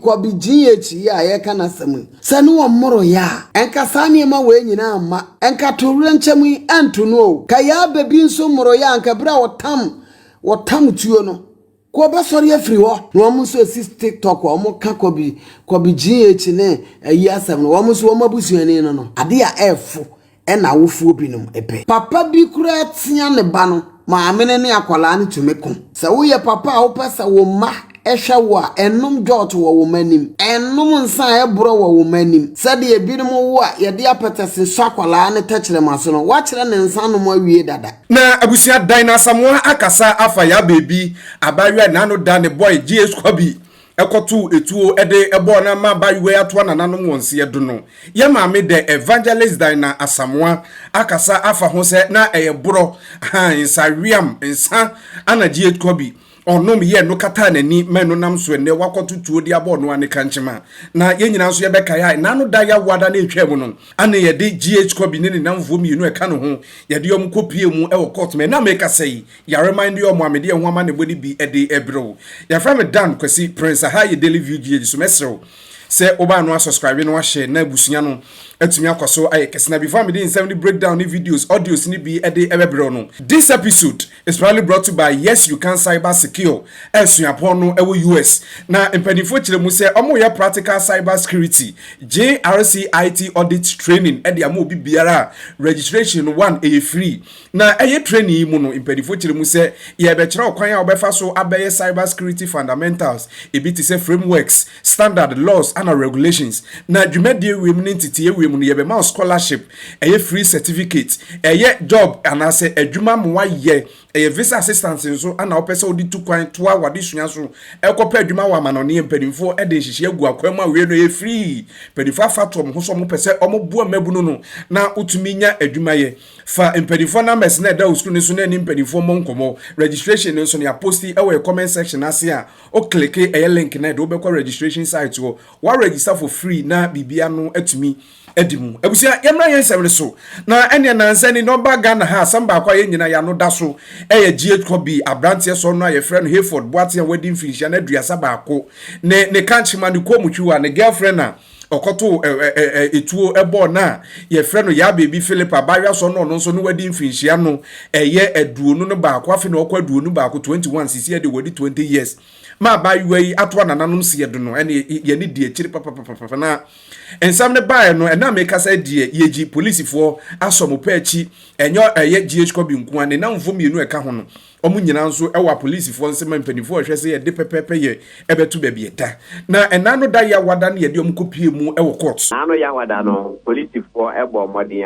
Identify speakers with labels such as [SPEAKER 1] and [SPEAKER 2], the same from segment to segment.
[SPEAKER 1] Kwabi GH yi a yɛreka n'asɛm yi, sɛ ne wɔn mmoroeɛ a, nka saa nneɛma wei nyinaa mma, nka atoyerɛnkyɛm yi anto no o. Ka Yaa Babi nso mmoroeɛ a, nka ɛberɛ a wɔtam, wɔtam tuo no, nka wɔbɛsɔre afiri hɔ. Na wɔn nso ɛsi TikTok a wɔka Kwabi, Kwabi GH ne ayi asɛm no, wɔn nso wɔn abusuani no no, adeɛ a ɛrefo na awofoɔ binom pɛ. Papa bi koraa tea ne ba no, maame no ne akwadaa no tumi ko. Sɛ woyɛ papa a wopɛ sɛ wo mma hwɛ wo a, nnom dwɔɔto wɔ wo mma anim. Nnom nsa a ɛborɔ wɔ wo mma anim. Sɛdeɛ ebinom wo a yɛde apɛtɛse sɔ akwadaa no tɛkyerɛma so no, woakyerɛ no nsa nom awie dada. Na abusua Dan
[SPEAKER 2] Asamoah akasa afa Yaa Baby, abaayewa a n'ano da ne boy J-Squabby ɛkɔtoo etuo de bɔɔ na ma ba Uwe atoa nananom wɔn seɛ do no, yɛn maame dɛ Evangelist Daina Asamoa akasa afa ho sɛ na ɛyɛ borɔ, hann, nsaweam, nsa ana gyeet kɔ bi ɔnom yɛ no kataa n'ani ma ɛno nam so ɛnnɛ wakɔto tuo de abɔ ɔno ane kankyema. Na yɛn nyinaa nso yɛbɛkae a ɛna ano da Yawoada no ɛtwaa mu no ane yɛde gyeet kɔ bi ne ne namfoɔ mmienu ɛka ne ho yɛde wɔn kɔ piee mu wɔ court ma ɛna mekasa yi Yare man de ɔmo a mede ɛho amanebɔ no bi de ɛbrɛ wo. Yɛfrɛ me Dan Kwasi Prince aha yɛ Daily View GH so mɛsrɛ wo sɛ wobaa no asɔskraibe na wahyɛ na abusua no atumi akɔ so ayɛ kɛse na before a mede nsɛm ne break down ne videos, audios no bi de ɛbɛbrɛ wo no. This episode is proudly brought to by Yes You Can Cyber Secure a suapɔn no ɛwɔ US na mpaninfoɔ kyerɛ mu sɛ ɔmo yɛ practical cyber security JRCIT audit training de ama obi biara a registration one ɛyɛ free Na ɛyɛ training yi mu no, mpanyimfo kyerɛ mu sɛ, Yɛrebɛkyerɛ ɔkwan a wobɛfa so abɛyɛ Cyber Security Fundamentals, ebi te sɛ frameworks, standards, laws, ɛnna regulations. Na dwumadi awiei mu ne ntetee awiei mu no, yɛbɛma wo scholarship, ɛyɛ free certificate, ɛyɛ job anaasɛ adwuma ma woayɛ, ɛyɛ visa assistance nso na wopɛ sɛ wode tu kwan toa w'adesua so rekɔpɛ adwuma wɔ amannɔne a mpanyimfo de nhyehyɛe agu akwan mu a awiei no ɛyɛ free. Mpanyimfo afatoɔ wɔn ho sɛ wɔpɛ sɛ wɔboa mmabunu no na wotumi nya adwuma yɛ. Fa mpanyimfoɔ numbers na ɛda wo sukuu no so na ɛne mpanyimfoɔ mmɔ nkɔmmɔ. Registration no nso, yɛa post ɛwɔ yɛ comment section ase a, wo click ɛyɛ link no a ɛde wo bɛkɔ registration site hɔ. Wa register for free na biribiara no atumi adi mu. Abusua, yɛmmra yɛn nsɛm no so. Na ɛneɛ nansa ni na ɔbaa Ghana ha, asɛm baako a yɛn nyinaa yɛn ano da so ɛyɛ GH Kobi, abranteɛ sɔɔno a yɛfrɛ no Hayford Boateng a wadi mfinhyia no aduasa baako, ne ne kankyema, ne kɔɔmutwi wa, ne girlfriend a, ɔkɔtoo etuo bɔɔ no a yɛfrɛ no Yaa Beebi Philip abaayewa sɔ na ɔno nso no wadi mfirinhyia no ɛyɛ aduonu no baako afe na ɔkɔ aduonu baako 21 sisi ɛde wadi 20 years ma abaayewa yi ato anananom si yɛdo no ɛne yɛne di akyiri papapapapa na nsɛm no baeɛ no ɛna mekasa deɛ yɛgyi polisifoɔ asɔ mo pɛ akyi ɛnyɛ ɛyɛ GH Kobi nkoa ne namfo mmienu ɛka ho no Wɔn nyinaa nso wɔ apolisifoɔ nse ma mpanimfoɔ rehwɛ sɛ yɛde pɛpɛɛpɛ yɛ ɛbɛto baabi ɛda. Na ɛnna ano da Yawada no yɛde wɔn kɔpuee mu wɔ court. Ɛnna ano Yawada no,
[SPEAKER 3] polisifoɔ bɔɔ mmɔden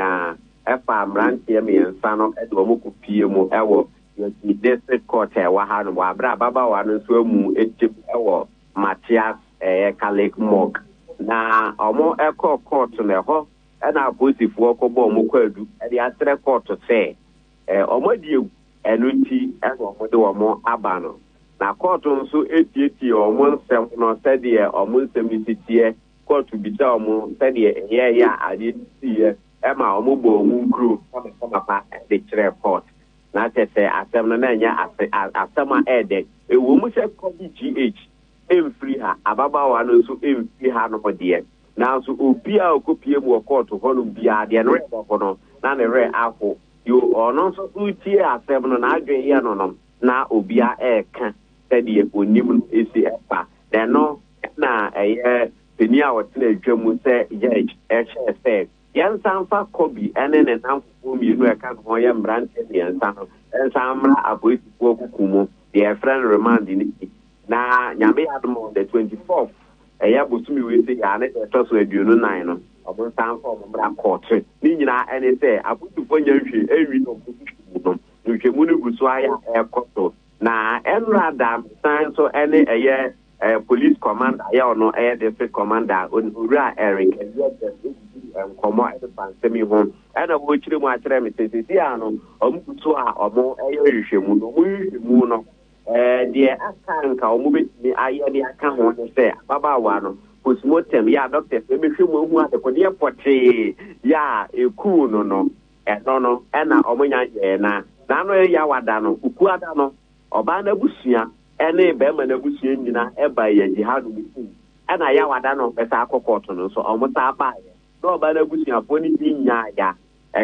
[SPEAKER 3] ara faa mmeranteɛ mmiɛnsa no de wɔn kɔpuee mu wɔ Yɛti District Court a ɛwɔ hanom wɔ aberɛ a ababaawa no nso amu atim wɔ Matthias Ɛyɛka Lake Morgue. Na wɔkɔɔ court no, ɛhɔ na apolisifoɔ kɔbɔɔ wɔn kwaadu de asrɛ court sɛ Wɔadi awu, ɛno nti na wɔde wɔn aba no, na kɔɔto nso tietiee wɔn nsɛm no sɛdeɛ wɔn nsɛm no si teɛ. Kɔɔto bisaa wɔn sɛdeɛ ɛyɛeɛ a adeɛ no siiɛ ma wɔbɔɔ wɔn nkuro kamakama pa de kyerɛɛ kɔɔto. Na kyerɛ sɛ, asɛm no, na ɛnyɛ asɛm a ɛyɛ dɛ. Ɛwom sɛ Kobe GH mfiri ha, ababaawa no nso mfiri hanom deɛ, Nanso obi a ɔkɔpue mu wɔ kɔɔto hɔnom biara, deɛ ne werɛ bɛho no, na ne werɛ aho. Deɛ ɔno nso so retie asɛm no, n'adwene yɛ no nom, na obiara reka sɛdeɛ ɔnim no si fa. Na ɛno na ɛyɛ panin a ɔtena adwa mu sɛ judge hyɛɛ sɛ, yɛnsan mfa Kobe ne ne nnamfofoɔ mmienu a ɛka ne ho yɛ mmeranteɛ mmiɛnsa no nsan mmra apolisifoɔ kuku mu, deɛ yɛfrɛ no remand no bi, na Nyame yɛ adom a on the 24th Ɛyɛ bosome wei sei a ne da ɛtɔ so aduonu nan no, wɔnsan mfa wɔn mmra kɔɔto. Ne nyinaa ne sɛ, apolisifoɔ nnya nhwee nwie wɔn nhwehwɛmu no. Nhwehwɛmu no gu so ara yɛ a ɛrekɔ so. Na ɛnnora da no, mesan nso ne ɛyɛ Police Command a yɛwɔ no, ɛyɛ District Command a Owura Eric Aduagyam dii nkɔmmɔ de faa nsɛm yi ho. Ɛna ɔrekyerɛ mu akyerɛ me sɛ, seesei ara no, wɔgu so a wɔreyɛ nhwehwɛmu. Na wɔn nhwehwɛmu no, Deɛ aka a anka wɔbɛtumi ayɛ de aka ho ne sɛ, ababaawa no, postmortem, yɛ a doctors no bɛhwɛ mu ahu adekodeɛ pɔtee yɛ a ɛkuu no no, ɛno no na wɔnya yɛɛ no a n'ano reyaw ada no, Kukuada no, ɔbaa no abusua ne barima no abusua nyinaa baeɛ a Jihad no kum ɛna Yawada no a ɔbɛsan akɔ kɔɔto no nso wɔsan baeɛ na ɔbaa no abusuafoɔ no bi nyaeɛ a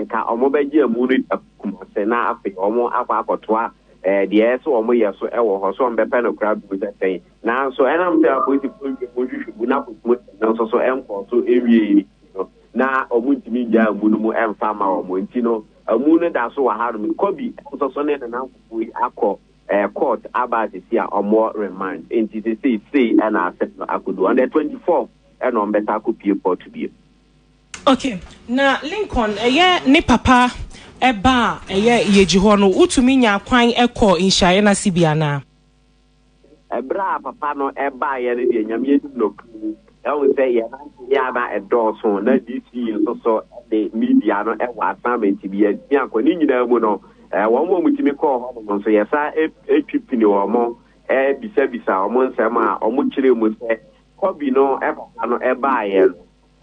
[SPEAKER 3] Nka wɔbɛgye amu no di akokum ase na afei wɔakɔ akɔtoa deɛ ɛyɛ sɛ wɔyɛ so wɔ hɔ, sɛ wɔbɛpɛ no koraa bio sɛ sɛn. Nanso ɛnam sɛ apolisifoɔ nhwɛ mu nhwehwɛmu na akokum ase no nso so nkɔɔ so nwiei no nti no, na wɔntumi nnyaa amu no mu mfa mma wɔn. Nti no, amu no da so wɔ hanom yi. Kobi nso so ne ne nankofo yi akɔ kɔɔt aba a sesei a wɔwɔ remand. Nti sesei, sei na asɛm no akɔdu. On the twenty fourth na wɔbɛsan akɔpue kɔɔt bio. Ok
[SPEAKER 4] na Lincoln ɛyɛ ne papa ɛba a ɛyɛ yɛgyi hɔ no wotumi nya kwan ɛkɔ nhyiaeɛ no ase bi anaa?
[SPEAKER 3] Ɛberɛ a papa no ɛbaeɛ no deɛ nyame anim no ɛhu sɛ yɛn nanteɛ a na ɛdɔɔso na DC nso so de media no ɛwɔ assignment bi yɛtumi ankɔ ne nyinaa mu no wɔn a wɔtumi kɔɔ hɔ nom nso yɛsa ɛtwi pini wɔn ɛbisabisa wɔn nsɛm a wɔkyerɛ mu sɛ Kobi no papa no baeɛ no,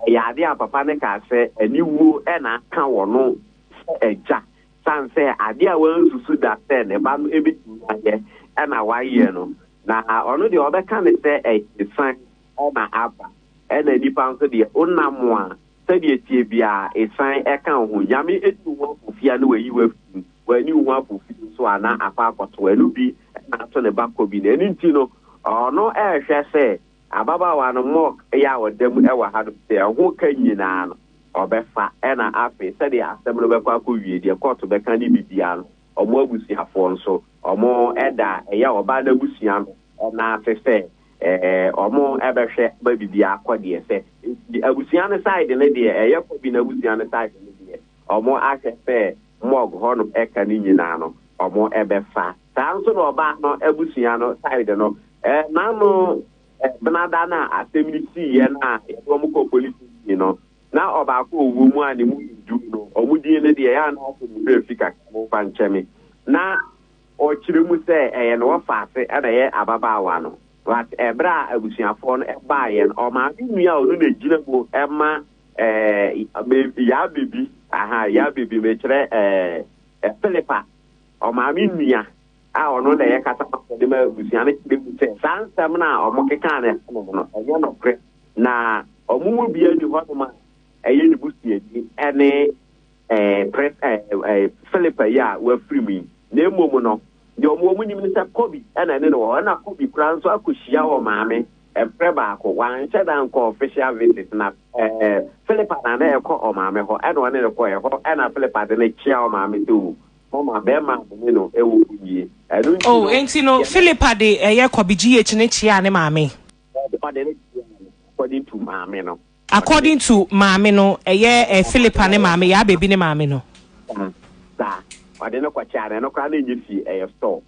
[SPEAKER 3] ɛyɛ adeɛ a papa no kaa sɛ aniwuo na aka wɔ no sɛ agya, sane sɛ adeɛ a wansusu da sɛ ne ba no bɛtumi ayɛ na wayɛ no. Na ɔno deɛ ɔbɛka no sɛ ɛyɛ asiane na aba, ɛna nnipa nso deɛ, wonam a Sɛdeɛ ɛteɛ biara, ɛsan ɛka wo ho. Nyame ɛnni wo ho afofi a na wayi wo afiri mu. Wanni wo ho afofi nso a na akɔ akɔto ɛno bi na ato ne ba kɔ bi no. Ɛno nti no, ɔno ɛrehwɛ sɛ ababaawa no Mok yɛ a ɔda mu wɔ hanom sɛ ɛho ka nyinaa no ɔbɛfa. Ɛna afei sɛdeɛ asɛm no bɛkɔ akɔ wie deɛ kɔɔto bɛka ne biribiara no, wɔn abusuafoɔ nso wɔn ɛda ɛyɛ ɔbaa no abusua no nan ase sɛ ɔmo ɛbɛhwɛ ba bibi akɔ deɛ sɛ abusua no side no deɛ ɛyɛ kɔ bi na abusua no side no deɛ ɔmo ahwɛ sɛ mɔg hɔ no ɛka ne nyinaa no ɔmo ɛbɛfa saa nso na ɔbaa no abusua no side no ɛɛ n'ano ɛbenada no a asɛm no sii yɛ no a yɛde ɔmo kɔ polisi yi no na ɔbaako ɔwɔ mu a ne mu du no ɔmo din no deɛ yɛ a na asɛm no fi kakra mo fa nkyɛme na Ɔkyerɛ mu sɛ ɛyɛ ne wɔfaase na ɛyɛ ababaawa no but ɛberɛ a abusuafoɔ no baeɛ no ɔmaame nua a ɔno na ɛgyina mu ma ɛɛ yaa baby aha yaa baby mekyerɛ ɛɛ Philippa ɔmaame nua a ɔno na ɛyɛ kasa ma ɔde ma abusua no kyerɛ mu sɛ saa nsɛm no a wɔn kekaa no ɛhɔ nom no ɛnyɛ nokorɛ na wɔn mu biara ni hɔ nom a ɛyɛ ne busuani ɛne Philip yi a wafiri mu yi, na mmom no, deɛ wɔn wɔn nim ne sɛ Kobe na ɛne no wɔ hɔ, ɛna Kobe koraa nso akɔhyia wɔn maame ɛberɛ baako, wanhyɛ da nkɔ official visit, na Philippa na na ɛkɔ wɔn maame hɔ, ɛna ɔne no kɔɛ hɔ, ɛna Philippa de no kyea wɔn maame sɛ o, mama bɛrima ne no ɛwɔ mu nie, ɛno nti no. Oh, enti
[SPEAKER 4] no Philippa de ɛyɛ Kobe GH ne kyea ne maame. Ɔde no kyea no, according
[SPEAKER 3] to maame no. According to
[SPEAKER 4] maame no ɛyɛ eh Phillipa ne maame yaa baby ne maame no. Saa saa
[SPEAKER 3] ɔde no kɔ kyɛɛ na ɛno koraa na ɛnyɛ fie ɛyɛ store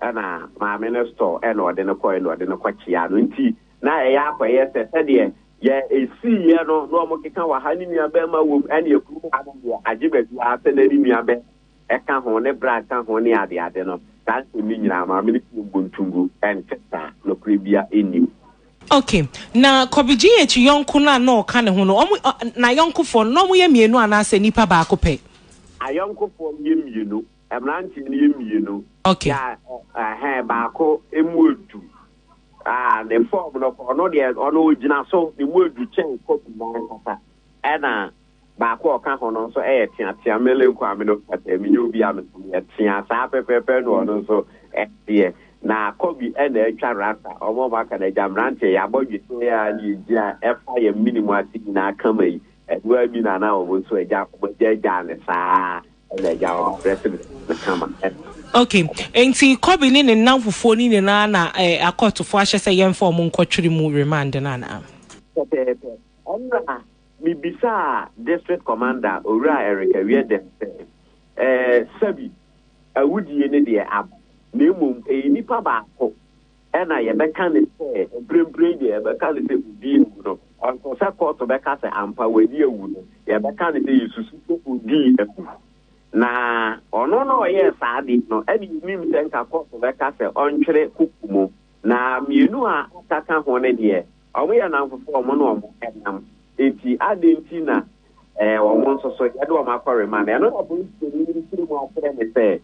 [SPEAKER 3] ɛna maame no store ɛna ɔde no kɔɛ na ɔde no kɔ kyɛɛ no nti na ɛyɛ akɔyɛ sɛ sɛdeɛ yɛ ɛsii yɛ no na ɔmo keka wɔ ha ne nua bɛɛma wɔ mu ɛne ɛkunu ha no deɛ agye baabi ara sɛ na ne nua bɛɛma ɛka ho ne bra ka ho ne adeade no, saa nsɛm yi nyinaa, maame no tumi bɔ ntu gu. Ɛnte saa. Nokorɛ biara nnim. Ok,
[SPEAKER 4] na Kɔbegyeyeakyi yɔnko no a na ɔka ne ho no, wɔn, ɔ, n'ayɔnkofoɔ no, na wɔyɛ mmienu anaasɛ nnipa baako pɛ? Ayɔnkofoɔ
[SPEAKER 3] no yɛ mmienu. Mmeranteɛ no yɛ mmienu. Ok.
[SPEAKER 4] Na, ɛhɛn,
[SPEAKER 3] baako mu edu. Ah, ne fɔɔm no koraa, ɔno deɛ, ɔno ɔgyina so, ne mu edu kyɛn Kɔbe no ankasa. Ɛna. baako a ɔka ho no nso yɛ teatea, mele nko a mene ɔpɛpɛɛ, menyɛ obi a meso meyɛ tea saa pɛpɛɛpɛ na ɔno nso teɛ. Na Kobe na atwa rasta, wɔn a wɔaka no agya mmeranteɛ, yɛabɔ dwetɛ a na yɛgyi a ɛfa yɛn mene mu ase nyinaa kama yi, ɛno ara bi na na wɔn nso agya, wɔn agya agyaa no saa na agya wɔn adrɛse no saa no kama. Ok,
[SPEAKER 4] nti Kobe ne ne nnamfofoɔ no nyinaa na eh, akɔɔtofoɔ ahyɛ sɛ yɛmfa wɔn nkɔtwere mu remand no anaa? Pɛpɛɛpɛ.
[SPEAKER 3] Ɛnna Mibisaa District Commander, Owura Eric Awiadam sɛ, Eh, Sabi, awudie no deɛ aba, na mmom ɛyɛ nipa baako na yɛbɛka no sɛ, mprempren deɛ yɛbɛka no sɛ ɔdii awu no, ɔnsɛ sɛ kɔɔto bɛka sɛ ampa wadi awu no, yɛbɛka no sɛ yɛsusu sɛ ɔdii awu. Na ɔno na ɔyɛɛ saa adeɛ no, ɛna yɛnim sɛ nka kɔɔto bɛka sɛ ɔntwere koko mu, na mmienu a aka ka ho no deɛ, Wɔyɛ nnamfofo a wɔne wɔn nam. Enti adɛn nti na wɔn nso so yɛde wɔn akɔ remand? Ɛno na polisini no tirim akyerɛ me sɛ,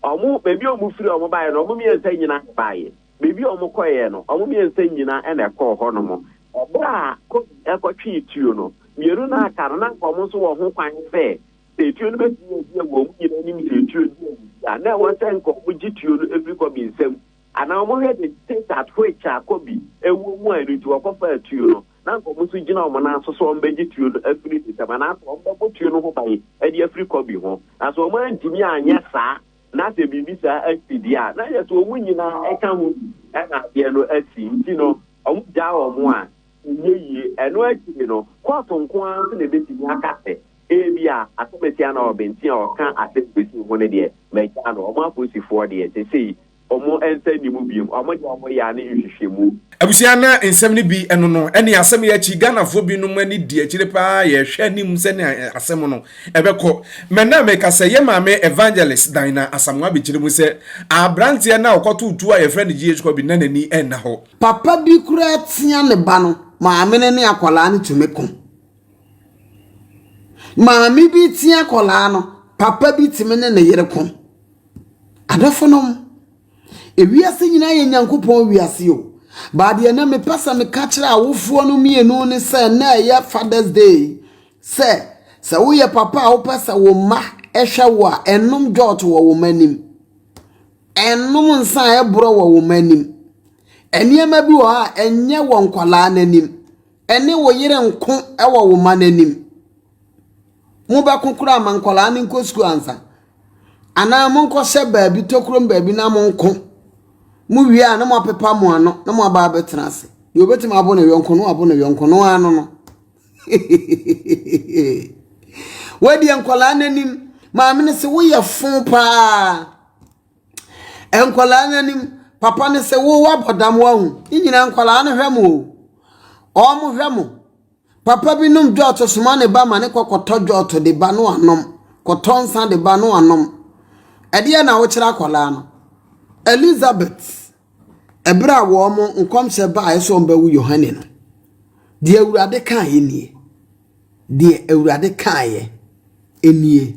[SPEAKER 3] wɔn, baabi a wɔfiri a wɔbaeɛ no, wɔn mmiɛnsa nyinaa na ɛbaeɛ. Baabi a wɔkɔeɛ no, wɔn mmiɛnsa nyinaa na ɛkɔɔ hɔnom. Ɛberɛ a Kofi kɔtwee tuo no, mmienu no a aka no, na anka wɔn nso wɔ ho kwan sɛ, sɛ tuo no bɛtumi adi awu a, wɔn nyinaa anim sɛ tuo no di awu bi a, na ɛwɔ sɛ anka wɔgye tuo no firi Kofi nsam Ana ɔmo hwɛ de Tessat which a Kobe ɛwɔ mu a ɛno nti ɔkɔ faa tuo no na anka ɔmo nso gyina ɔmo nan so sɛ ɔmo bɛ gye tuo no afiri ne nsam anaa sɛ ɔmo bɛ bɔ tuo no ho ban ɛde afiri Kobe ho na sɛ ɔmo antumi anyɛ saa na sɛ biribi saa asi deɛ a na yɛ sɛ ɔmo nyinaa ɛka ho bi ɛna adeɛ no asi nti no ɔmo gyaa ɔmo a ɛnyɛ yie ɛno akyiri no court nko ara nso na ɛbɛtumi aka sɛ Ebia asɛm a ɛte a na ɔbɛnti a ɔka asɛm bɛsiw ho no deɛ, magyaa no. Wɔn apolisifoɔ deɛ, seesei wɔn nsa nni mu bio. Wɔn deɛ wɔyɛ ara ne nhwehwɛmu. Abusua na
[SPEAKER 2] nsɛm no bi ɛno no ɛne asɛm yi akyi Ghanafoɔ bi nom ani di akyire paa yɛrehwɛ anim sɛnea asɛm no ɛbɛkɔ mɛ na meka sɛ yɛ maame Evangelist Daina Asamoah bɛkyerɛ mu sɛ abranteɛ no a ɔkɔtoo tuo a yɛfrɛ no GH Kobi na n'ani ɛnna hɔ. Papa bi koraa
[SPEAKER 1] tia ne ba no, maame no ne akwadaa no tumi ko. Maame bi tea akwadaa no, papa bi tumi ne ne yere ko. Adɔfonom, ewiase nyinaa yɛ Nyankopɔn wiase o, but deɛ na mepɛ sɛ meka kyerɛ awofoɔ no mmienu ne sɛ nnɛ a ɛyɛ Father's Day yi, sɛ sɛ woyɛ papa a wopɛ sɛ wo mma hwɛ wo a, ɛnnom dwɔɔto wɔ wo mma anim. Ɛnnom nsa a ɛborɔ wɔ wo mma anim. Nneɛma bi wɔ hɔ a, ɛnyɛ wɔ nkwadaa no anim. ne wo yere nko wɔ wo mma no anim. Mobɛko koraa ma nkwadaa no nkɔ sukuu ansa. Anaa monkɔhyɛ baabi tokurom baabi na monko. Mowie a na moapepa mo ano na moaba abɛtena ase. Deɛ obɛtumi abo ne yɔnko no abo ne yɔnko no ano no. Wodeɛ nkwadaa no anim maame no se woyɛ fo paa. Nkwadaa no anim, papa no sɛ wo woabɔ dam woahu. Ne nyinaa nkwadaa no hwɛ mo o, wɔhwɛ mo. Papa bi nom dwɔɔto soma ne ba ma ne kɔ kɔtɔ dwɔɔto de ba no anom, kɔtɔ nsa de ba no anom. Ɛdeɛ na wokyerɛ akwadaa no. Elizabeth, ɛberɛ a wɔn nkɔmhyɛ baeɛ sɛ wɔbɛwo Yohane no, deɛ Awurade kaeɛ nie. Deɛ Awurade kaeɛ nie.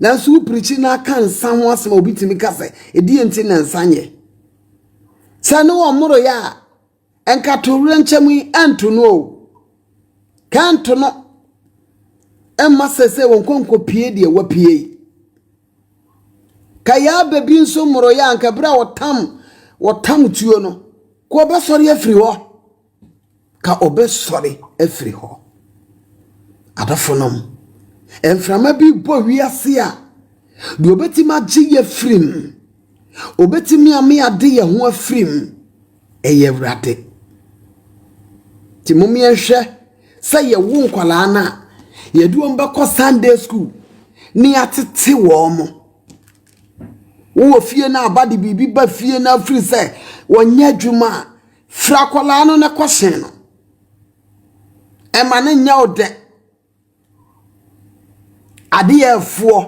[SPEAKER 1] Nanso wo pirikyi na aka nsa ho asɛm a obi tumi ka sɛ, ɛdeɛ nti na nsa nyɛ? Sɛ ne wɔn moroyɛ a, ɛnka to werɛ nkyɛm yi ɛnto no o. Ka ɛnto no mma sɛ sɛ wɔn kɔnkɔ pie deɛ wapie yi. Ka yaa bɛbi nso moroyɛ a nka berɛ a wɔtam wɔtam tuo no, kɔ bɛsɔre afiri hɔ. ka ɔbɛsɔre afiri hɔ. Adɔfonom, mframa bi bɔ wiase a, deɛ ɔbɛtumi agye yɛ afiri mu, ɔbɛtumi ame ade yɛ ho afiri mu, ɛyɛ Awurade. Nti mom yɛnhwɛ sɛ yɛwo nkwadaa no a, yɛde wɔn bɛkɔ Sunday school ne yɛatete wɔn mo. Wowɔ fie no aba de biribi ba fie no afiri sɛ wɔnyɛ adwuma a, Firi akwadaa no na kɔ sen no. Ɛma no nyɛ wo dɛ. Adeɛ a ɛfoɔ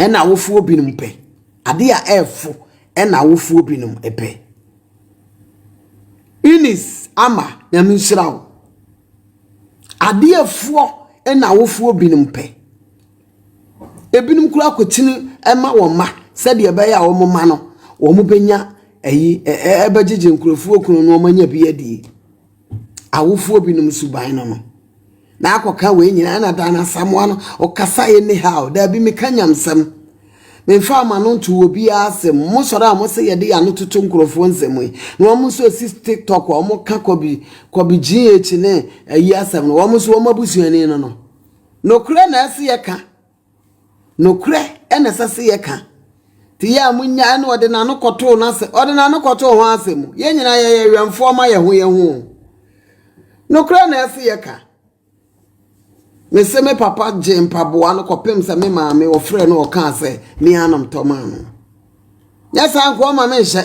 [SPEAKER 1] ɛna awofoɔ binom pɛ. Adeɛ a ɛfo ɛna awofoɔ binom pɛ. Eunice Ama, Nyame nhyira wo. Adeɛ a ɛfoɔ ɛna awofoɔ binom pɛ. Ebinom koraa kotini ma wɔn mma sɛdeɛ ɛbɛyɛ a wɔn mma no wɔbɛnya ayi ɛ ɛ ɛbɛgyegye nkurɔfoɔ kunu na wɔanya bi adie. Awofoɔ binom suban no no. Na akɔka wei nyinaa ɛna Dan Asamoah no ɔkasa anyhow. Daabi meka nyamsɛm. Memfaa m'ano ntoo obiara asɛm. Mosɔre a mose yɛde yɛn ano toto nkurɔfoɔ nsɛm yi na wɔn nso ɛsi tiktok a wɔka kɔbi kɔbi GH ne ayi asɛm no wɔn nso wɔn abusuani no no. Nokorɛ na ɛse yɛka. Nokorɛ na ɛsɛ se yɛka. Nti yɛ a monya ɛna ɔde n'ano kɔtoo n'asɛm, ɔde n'ano kɔtoo hwan asɛm mu? Yɛn nyinaa yɛyɛ wɛmfoɔ ma yɛn ho yɛn ho. Nokorɛ na ɛse yɛka. Mese me papa gyee mpaboa no kɔpem sɛ me maame wɔfrɛɛ no ɔkaa sɛ me ara na metɔ maa no. Nyɛ saa nkoa ma menhyɛ.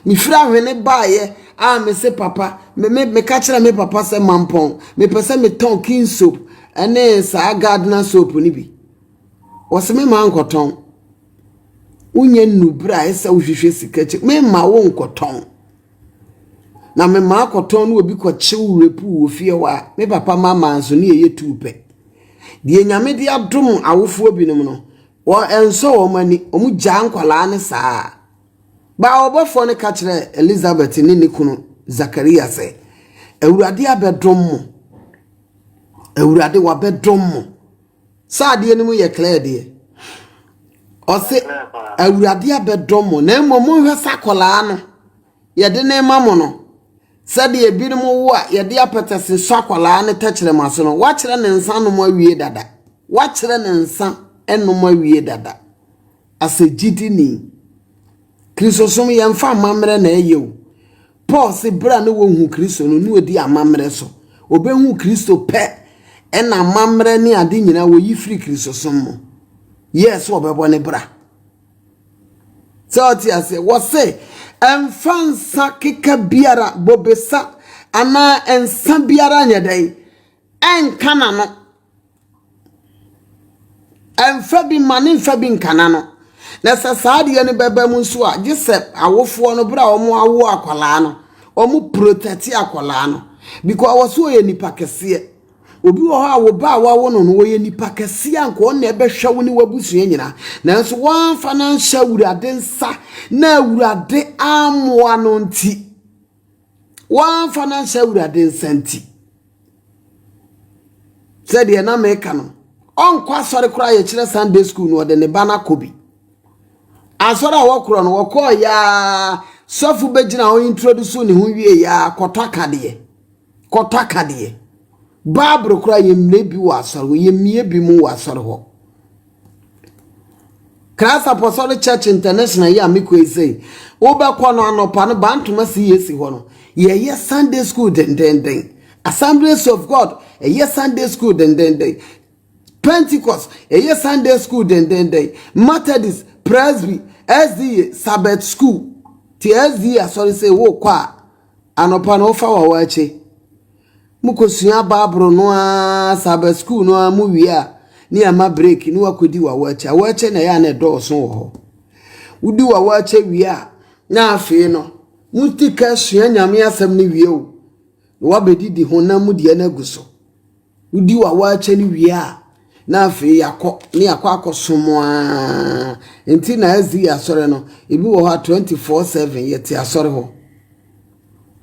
[SPEAKER 1] Mefiri Ahwene baeɛ a mese papa me me meka kyerɛ me papa sɛ mampɔn mepɛ sɛ metɔn king soap ne saa gardener soap no bi. Wɔse me ma nkɔtɔn. Wonyɛ nnu berɛ a ɛsɛ wohwehwɛ sika kyɛ me ma wo nkɔtɔn. Na me ma akɔtɔn no obi kɔkye wo repu wɔ fie hɔ a me papa ma ma nso ne ɛyɛ tuu pɛ. Deɛ nyame de adom awofoɔ binom no Wɔansɔ wɔn ani, wɔgyaa nkwadaa no saa. Baa ɔbɔfoɔ no ka kyerɛɛ Elisabet ne ne kunu Zakaria sɛ, Awurade abɛdom mo. Awurade, wabɛdom mo. Sɛ adeɛ no mu yɛ clear deɛ. Ɔse, Awurade abɛdom mo, na mmom monhwɛ sɛ akwadaa no. Yɛde no rema mo no, sɛdeɛ ebinom wo a yɛde apɛtɛse nsɔ akwadaa no tɛkyerɛma so no, wɔakyerɛ ne nsa anom awie dada. Wɔakyerɛ ne nsa anom awie dada. Asɛ gyidini. Kristosom, yɛmfa amammerɛ na ɛyɛ o. Paul se berɛ a na wɔhu Kristo no, na ɔdi amammerɛ so. Ɔbɛhu Kristo pɛ ɛna amammerɛ ne ade nyinaa wɔyi firi Kristosom mu. Yɛɛ sɛ ɔbɛbɔ ne bra. sɛ ɔte aseɛ wɔse ɛmfa nsa keka biara bobesa anaa nsa biara nyɛ dɛn ɛnka n'ano ɛmfa bi ma ne mfa bi nka n'ano na sɛ saa adeɛ no bɛba mu nso a gye sɛ awofoɔ no berɛ a wɔn awo akwadaa no wɔn protɛte akwadaa no because wɔso ɔyɛ nipa kɛseɛ. Obi wɔ hɔ a wo ba a woawo no no, ɔyɛ nipa kɛseɛ a nka ɔno na ɛbɛhwɛ wo ne w'abusua nyinaa, nanso woamfa no anhyɛ Awurade nsa na Awurade ammoa no nti, woamfa no anhyɛ Awurade nsa nti. Sɛdeɛ na meka no, ɔnkɔ asɔre koraa yɛkyerɛ Sunday school no ɔde ne ba no akɔ bi. Asɔre a wɔkorɔ no wɔkɔɔ yaa sɔfo bɛgyina hɔ introduce ne ho wie yaa kɔtɔ akadeɛ. Kɔtɔ akadeɛ. Bible koraa yɛmmie bi wɔ asɔre hɔ. Yɛmmie bi mu wɔ asɔre hɔ. Christ Apostolic Church International yi a mekɔ yi sei, wobɛkɔ no anɔpa no bantoma si yɛsi hɔ no, yɛyɛ Sunday school dendenden. Assemblies of God ɛyɛ Sunday school dendenden. Pentecost ɛyɛ Sunday school dendenden. Methodist, Presby, SDA, Sabbath school. Ti SDA asɔre sei wokɔ a, Anɔpa no wofa wɔ hɔ akye mo kɔ sua baaboro no ara saa bɛ sukuu no ara mo wie a ne ama break ne wakɔdi wɔ hɔ akye. Wɔ akye na ɛyɛ a na ɛdɔɔso wɔ hɔ. Wodi wɔ hɔ akye wie a na afei no mo ti ka sua nyame asɛm no wie o na wabɛdidi honam mu deɛ no agu so. Wodi w'awakyɛ no wie a, na afei yɛakɔ ne yɛakɔ akɔsom ara. Nti na ɛdze yɛ asɔre no, ebi wɔ hɔ a twenty four seven yɛte asɔre hɔ.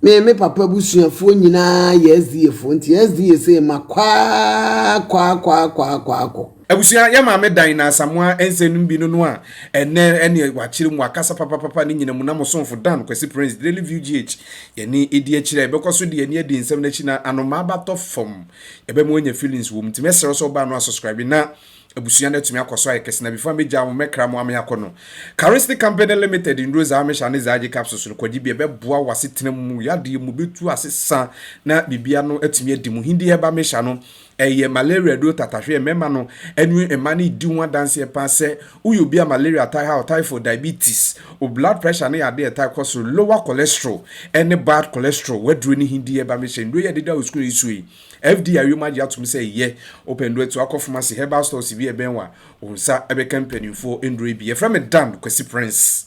[SPEAKER 1] Me me papa abusuafoɔ nyinaa yɛ SDAfoɔ nti SDA sɛ makɔ ara kɔ ara kɔ ara kɔ ara kɔ ara kɔ. Abusua, yɛ maame
[SPEAKER 2] dan na Asamoah nsɛm no mu bi no no a ɛnnɛ ɛne wakyerɛ mu wakasa papapapa no nyina mu na mo somfo Dan Kwasi Prince Daily View GH yɛne ɛdi akyire a yɛbɛkɔ so de yɛn ani adi nsɛm no akyi na anomaa ba tɔ fam yɛbɛma wanya feelings wɔ mu nti mɛsrɛ wo sɛ wobaa no a subscribe na abusua no atumi akɔ so ayɛ kɛse na before mɛgyaa mo mɛkra mo ama yɛakɔ no Caristic Company Limited nnuro dza Amish ane dza agye capsules no kɔgye bi ɛbɛboa w'asetena mu yadeɛ mu bɛtu asesa na biribia no atumi adi mu Hindi Herbal Misha no Ɛyɛ malaria duro tatahwe. Mmarima no ne mmaa no redi ho adanseɛ paa sɛ woyɛ obi a malaria ataa ha wo, typhoid, diabetes, wo blood pressure ne adeɛ a ɛtaa kɔ soro, lower cholesterol ne bad cholesterol, w'aduro no he di ɛba mehyɛ nnuro yi a ɛdeda wo sukuu yi so yi, FDA ayom agye atom sɛ ɛyɛ. Wopɛ nnuro atu akɔ pharmacy, herbal stores bi a ɛbɛn wo a, wo nsa bɛka mpanimfoɔ nnuro yi bi. Yɛfrɛ me Dan Kwasi Prince.